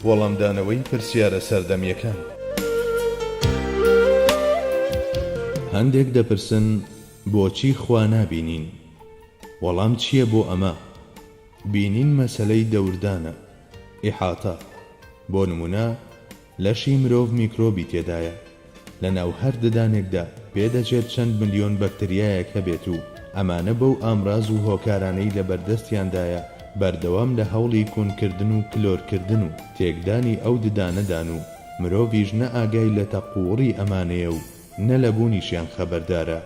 وەڵامدانەوەی پرسیارە سەردەمییەکان هەندێک دەپرسن بۆچی خوا نابینین؟ وەڵام چییە بۆ ئەمە؟ بینین مەسەلەی دەوردانە، احاطە، بۆ نموونە، لەشی مرۆڤ میکرۆبی تێدایە، لە ناو هەر ددانێکدا پێدەچێت چەند ملیۆن بەکتریایەک هەبێت و ئەمانە بەو ئامراز و هۆکارانەی لە بەردەستیاندایە بەردەوام لە هەوڵی کونکردن و کلۆرکردن و تێکدانی ئەو ددانەدان و مرۆڤیش نە ئاگای لە تەقووڕی ئەمانەیە و نە لە بوونیشیان خەبەردارە،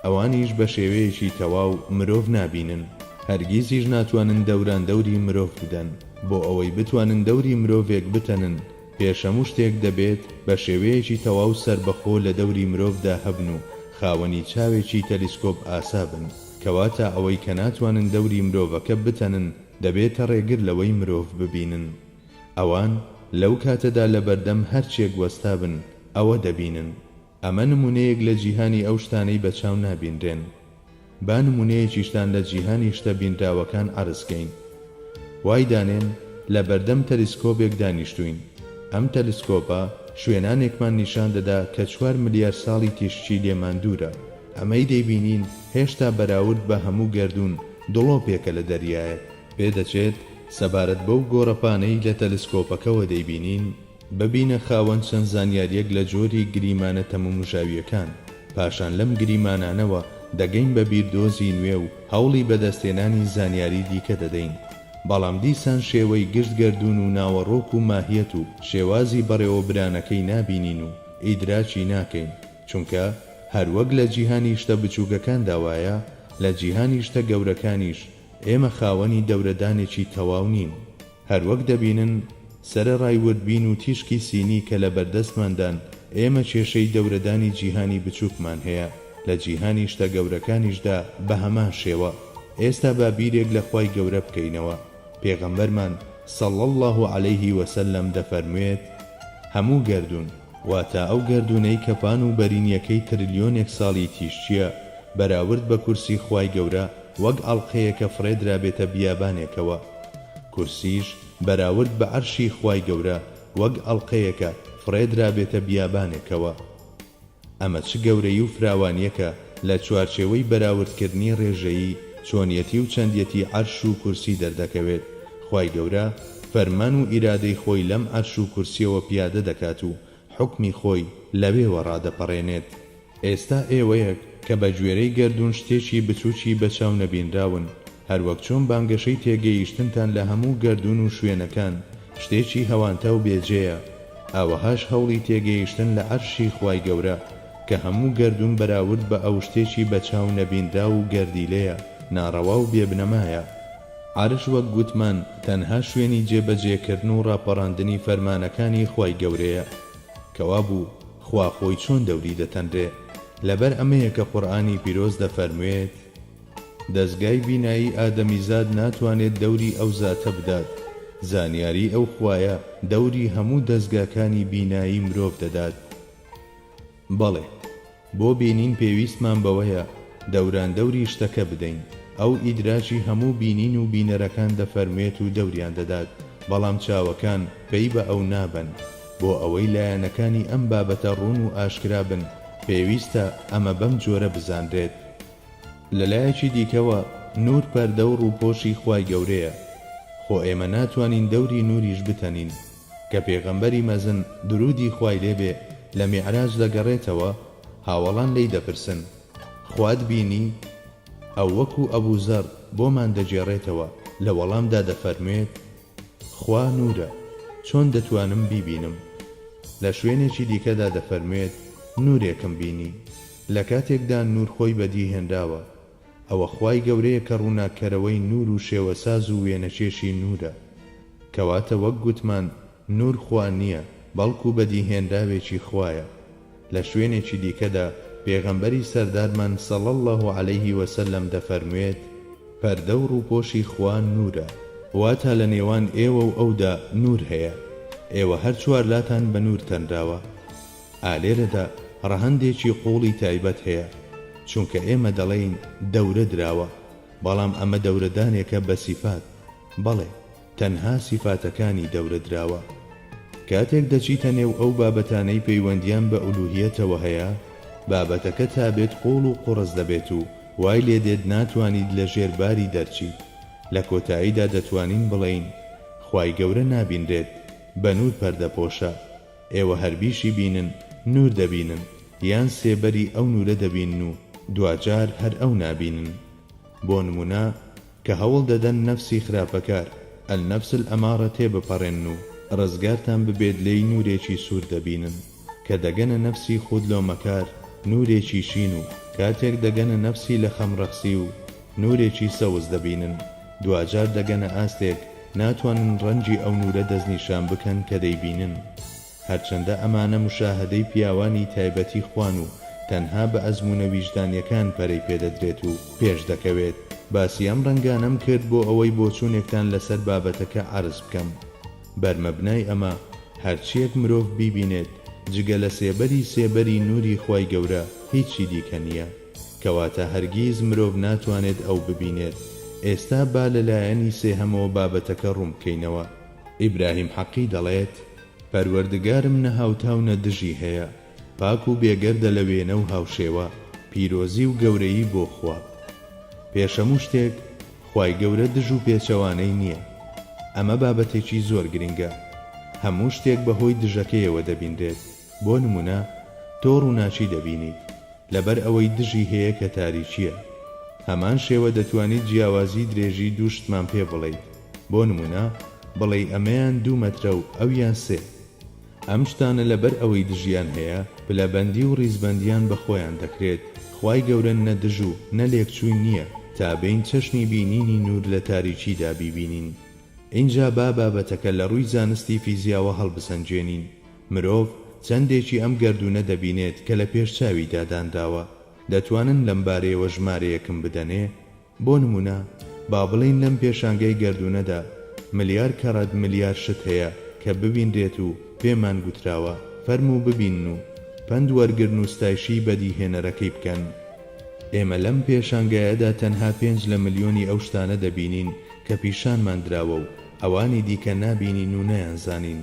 ئەوانیش بە شێوەیەکی تەواو مرۆڤ نابینن، هەرگیزیش ناتوانن دەوران دەوری مرۆڤ بدەن، بۆ ئەوەی بتوانن دەوری مرۆڤێک بتەنن، پێش هەموو شتێک دەبێت بە شێوەیەکی تەواو سەربەخۆ لە دەوری مرۆڤدا هەبن و خاوەنی چاوێکی تەلیسکۆپ ئاسا بن، کەواتە ئەوەی کە ناتوانن دەوری مرۆڤەکە بتەنن دەبێتە ڕێگر لەوەی مرۆڤ ببینن. ئەوان لەو کاتەدا لەبەردەم هەرچیەک وەستابن ئەوە دەبینن، ئەمە نمونەیەک لە جیهانی ئەو شتانەی بە چاو نابینرێن. با نمونەیەکیشتان لە جیهانی شتە بینراوەکان عەرزکەین. وای دانێن لە بەردەم تەلیسکۆبێک دانیشتوین، ئەم تەلسکۆبە شوێنانێکمان نیشان دەدا کە چوار ملیار ساڵی تیشکی لێمان دوورە، ئەمەی دەیبینین هێشتا بەراورد بە هەموو گەردوون دڵۆپێکە لە دەریایەک. پێدەچێت سەبارەت بەو گۆڕەپانەی لە تەلسکۆپەکەوە دەیبینین، ببینە خاوەن چەند زانیارییەک لە جۆری گریمانە تەمومژاوییەکان، پاشان لەم گریمانانەوە دەگەین بە بیردۆزی نوێ و هەوڵی بەدەستهێنانی زانیاری دیکە دەدەین، بەڵام دیسان شێوەی گشت گەردوون و ناوەڕۆک و ماهیەت و شێوازی بەڕێوەبرانەکەی نابینین و ئیدراکی ناکەین، چونکە هەروەک لە جیهانی شتە بچووکەکاندا وایە، لە جیهانی شتە گەورەکانیش، ئێمە خاوەنی دەورەدانێکی تەواو نین. هەروەک دەبینن، سەرەڕای وردبین و تیشکی سینی کە لە بەردەستماندان، ئێمە کێشەی دەورەدانی جیهانی بچووکمان هەیە، لە جیهانی شتە گەورەکانیشدا بە هەمان شێوە. ئێستا با بیرێک لە خوای گەورە بکەینەوە. پێغەمبەرمان، صلی اللە علیه وسلم، دەفەرموێت، هەموو گەردوون، واتە ئەو گەردوونەی کە پان و بەرینییەکەی ترلیۆنێک ساڵی تیشکییە، بەراورد بە کورسی خوای گەورە، وەک ئاڵقەیەکە فڕێدرابێتە بیابانێکەوە. کورسیش بەراورد بە عەرشی خوای گەورە وەک ئەڵقەیەکە فڕێدرابێتە بیابانێکەوە. ئەمە چ گەورەی و فراوانیەکە لە چوارچێوەی بەراوردکردنی ڕێژەیی چۆنیەتی و چەندیەتی عەرش و کورسی دەردەکەوێت خوای گەورە فەرمان و ئیرادەی خۆی لەم عەرش و کورسیەوە پیادە دەکات و حوکمی خۆی لەوێوە ڕادەپەڕێنێت. ئێستا ئێوەیەک کە بە گوێرەی گەردوون شتێکی بچووکی بە چاو نەبینراون، هەروەک چۆن بانگەشەی تێگەیشتنتان لە هەموو گەردوون و شوێنەکان شتێکی هەوانتا و بێ جێیە، ئاوەهاش هەوڵی تێگەیشتن لە عەرشی خوای گەورە کە هەموو گەردوون بەراورد بە ئەو شتێکی بە چاو نەبینراو و گەردیلەیە ناڕەوا و بێ بنەمایە. عەرش وەک گوتمان تەنها شوێنی جێ بەجێ کردن و ڕاپەڕاندنی فەرمانەکانی خوای گەورەیە کەوابوو خوا خۆی چۆن دەوری دەتەنرێ لەبەر ئەمەیە کە قورئانی پیرۆز دەفەرموێت دەزگای بینایی ئادەمیزاد ناتوانێت دەوری ئەو زاتە بدات زانیاری ئەو خوایە دەوری هەموو دەزگاکانی بینایی مرۆڤ دەدات. بەڵێ بۆ بینین پێویستمان بەوەیە دەوران دەوری شتەکە بدەین، ئەو ئیدراکی هەموو بینین و بینەرەکان دەفەرموێت و دەوریان دەدات، بەڵام چاوەکان پەی بە ئەو نابەن، بۆ ئەوەی لایەنەکانی ئەم بابەتە ڕوون و ئاشکرا بن پێویستە ئەمە بەم جۆرە بزانرێت. لەلایەکی دیکەوە نوور پەردە و ڕووپۆشی خوای گەورەیە، خۆ ئێمە ناتوانین دەوری نووریش بتەنین، کە پێغەمبەری مەزن، دروودی خوای لێ بێ، لە میعراج دەگەڕێتەوە، هاوەڵان لێی دەپرسن، خوات بینی؟ ئەو وەکوو ئەبوو زەر بۆمان دەگێڕێتەوە، لە وەڵامدا دەفەرموێت، خوا نوورە، چۆن دەتوانم بیبینم؟ لە شوێنێکی دیکەدا دەفەرموێت، نوورێکم بینی. لە کاتێکدا نوور خۆی بەدی هێنراوە، ئەوە خوای گەورەیە کە ڕووناککەرەوەی نوور و شێوەساز و وێنەکێشی نوورە. کەواتە وەک گوتمان نوور خوا نییە، بەڵکو بەدیهێنراوێکی خوایە. لە شوێنێکی دیکەدا پێغەمبەری سەردارمان صلی اللە علیه وسلم دەفەرموێت، پەردە و ڕووپۆشی خوا نوورە. واتە لە نێوان ئێوە و ئەودا نوور هەیە، ئێوە هەر چوارلاتان بە نوور تەنراوە. ئا لێرەدا ڕەهەندێکی قووڵی تایبەت هەیە، چونکە ئێمە دەڵێین دەورە دراوە، بەڵام ئەمە دەورەدانێکە بە سیفات، بەڵێ، تەنها سیفاتەکانی دەورە دراوە. کاتێک دەچیتە نێو ئەو بابەتانەی پەیوەندییان بە ئولووهیەتەوە هەیە، بابەتەکە تا بێت قووڵ و قوڕس دەبێت و وای لێ دێت ناتوانیت لە ژێر باری دەرچیت، لە کۆتاییدا دەتوانین بڵێین خوای گەورە نابینرێت، بە نوور پەردەپۆشە. ئێوە هەر بیشی بینن نوور دەبینن یان سێبەری ئەو نوورە دەبینن و دواجار هەر ئەو نابینن بۆ نموونە کە هەوڵ دەدەن نەفسی خراپەکار، النفس الامارە، تێبپەڕێنن و ڕزگارتان ببێت لێی نوورێکی سوور دەبینن کە دەگەنە نەفسی خود لۆمەکار نوورێکی شین و کاتێک دەگەنە نەفسی لەخەم ڕەخسی و نورێکی سەوز دەبینن، دواجار دەگەنە ئاستێک ناتوانن ڕەنگی ئەو نورە دەستنیشان بکەن کە دەیبینن. هەرچەندە ئەمانە مشاهەدەی پیاوانی تایبەتی خوان و تەنها بە ئەزموونە ویژدانیەکان پەرەی پێدەدرێت و پێشدەکەوێت، باسی ئەم ڕەنگانەم کرد بۆ ئەوەی بۆچوونێکتان لەسەر بابەتەکە عەرز بکەم. بەرمەبنای ئەمە، هەرچییەک مرۆڤ بیبینێت، جگە لە سێبەری سێبەری نوری خوای گەورە، هیچی دیکە نییە. کەواتە هەرگیز مرۆڤ ناتوانێت ئەو ببینێت، ئێستا با لە لایەنی سێهەمەوە بابەتەکە ڕوون بکەینەوە. ئیبراهیم حەقی دەڵێت، پەروەردگارم نە هاوتا و نە دژی هەیە، پاک و بێگەردە لە وێنە و هاوشێوە، پیرۆزی و گەورەیی بۆ خوا. پێش هەموو شتێک، خوای گەورە دژ و پێچەوانەی نییە. ئەمە بابەتێکی زۆر گرنگە. هەموو شتێک بەهۆی دژەکەیەوە دەبینرێت. بۆ نمونە تۆ ڕوناکی دەبینیت لەبەر ئەوەی دژی هەیە کە تاریکیە هەمان شێوە دەتوانیت جیاوازی درێژی دوو شتمان پێ بڵێیت بۆ نمونە بڵێی ئەمەیان دوو مەترە و ئەویان سێ ئەم شتانە لەبەر ئەوەی دژیان هەیە پلە بەندی و ڕیزبەندیان بە خۆیان دەکرێت خوای گەورە نە دژ و نە لێکچووی نیە تا بێین چەشنی بینینی نور لە تاریکیدا بیبینین ئینجا با بابەتەکە لە ڕووی زانستی فیزیاوە هەڵبسەنگێنین مرۆڤ چەندێکی ئەم گەردوونە دەبینێت کە لە پێش چاویدا دانراوە؟ دەتوانن لەم بارەیەوە ژمارەیەکم بدەنێ؟ بۆ نموونە با بڵێین لەم پێشانگای گەردوونەدا ملیار کەڕەت ملیار شت هەیە کە ببینرێت و پێمان گوتراوە فەرموو ببینن و پەند وەرگرن و ستایشی بەدیهێنەرەکەی بکەن. ئێمە لەم پێشانگایەدا تەنها پێنج لە ملیۆنی ئەو شتانە دەبینین کە پیشانمان دراوە و ئەوانی دیکە نابینین و نایانزانین.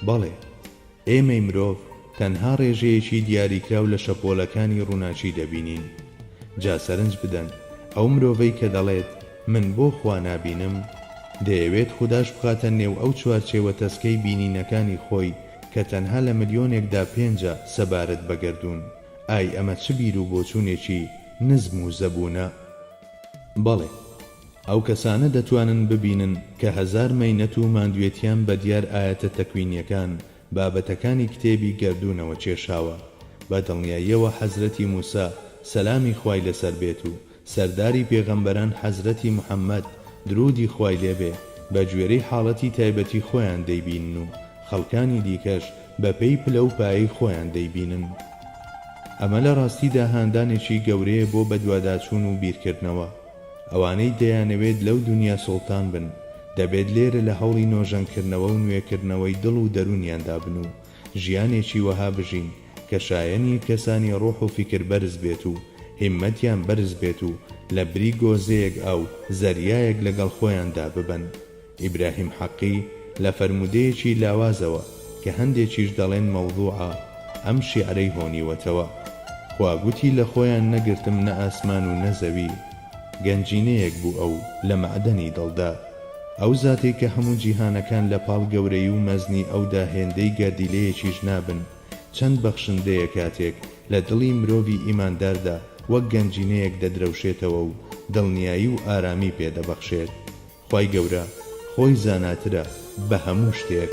بەڵێ، ئێمەی مرۆڤ تەنها ڕێژەیەکی دیاریکراو لە شەپۆلەکانی ڕووناکی دەبینین. جا سەرنج بدەن، ئەو مرۆڤەی کە دەڵێت، من بۆ خوا نابینم؟ دەیەوێت خوداش بخاتە نێو ئەو چوارچێوە تەسکەی بینینەکانی خۆی کە تەنها لە ملیۆنێکدا پێنجە سەبارەت بە گەردوون. ئای ئەمە چ بیروبۆچوونێکی نزم و زەبوونە! بەڵێ! ئەو کەسانە دەتوانن ببینن کە هەزار مەینەت و ماندوێتیان بە دیار ئایەتە تەکوینیەکان بابەتەکانی کتێبی گەردوونەوە چێشاوە بە دڵنیاییەوە حەزرەتی موسا سەلامی خوای لەسەر بێت و سەرداری پێغەمبەران حەزرەتی محمد درودی خوای لێ بێ بە گوێرەی حاڵەتی تایبەتی خۆیان دەیبینن و خەڵکانی دیکەش بە پێی پلە و پایەی خۆیان دەیبینن ئەمە لە ڕاستیدا هاندانێکی گەورەیە بۆ بەدواداچوون و بیرکردنەوە. ئەوانەی دەیانەوێت لەو دونیا سوڵتان بن، دەبێت لێرە لە هەوڵی نۆژەنکردنەوە و نوێکردنەوەی دڵ و دەروونیاندا بن و ژیانێکی وەها بژین کە شایەنی کەسانی ڕۆح و فیکر بەرز بێت و هیممەتیان بەرز بێت و لە بری گۆزەیەک ئاو زەریایەک لەگەڵ خۆیاندا ببەن. ئیبراهیم حەقی لە فەرموودەیەکی لاوازەوە کە هەندێکیش دەڵێن مەوزوعە، ئەم شیعرەی هۆنیوەتەوە. خوا گوتی لە خۆیان نەگرتم نە ئاسمان و نە زەوی. گەنجینەیەک بوو ئەو لە مەعدەنی دڵدا. ئەو زاتەی کە هەموو جیهانەکان لە پاڵ گەورەیی و مەزنی ئەودا هێندەی گەردیلەیەکیش نابن، چەند بەخشندەیە کاتێک لە دڵی مرۆڤی ئیمانداردا وەک گەنجینەیەک دەدرەوشێتەوە و دڵنیایی و ئارامی پێ دەبەخشێت. خوای گەورە خۆی زاناترە بە هەموو شتێک.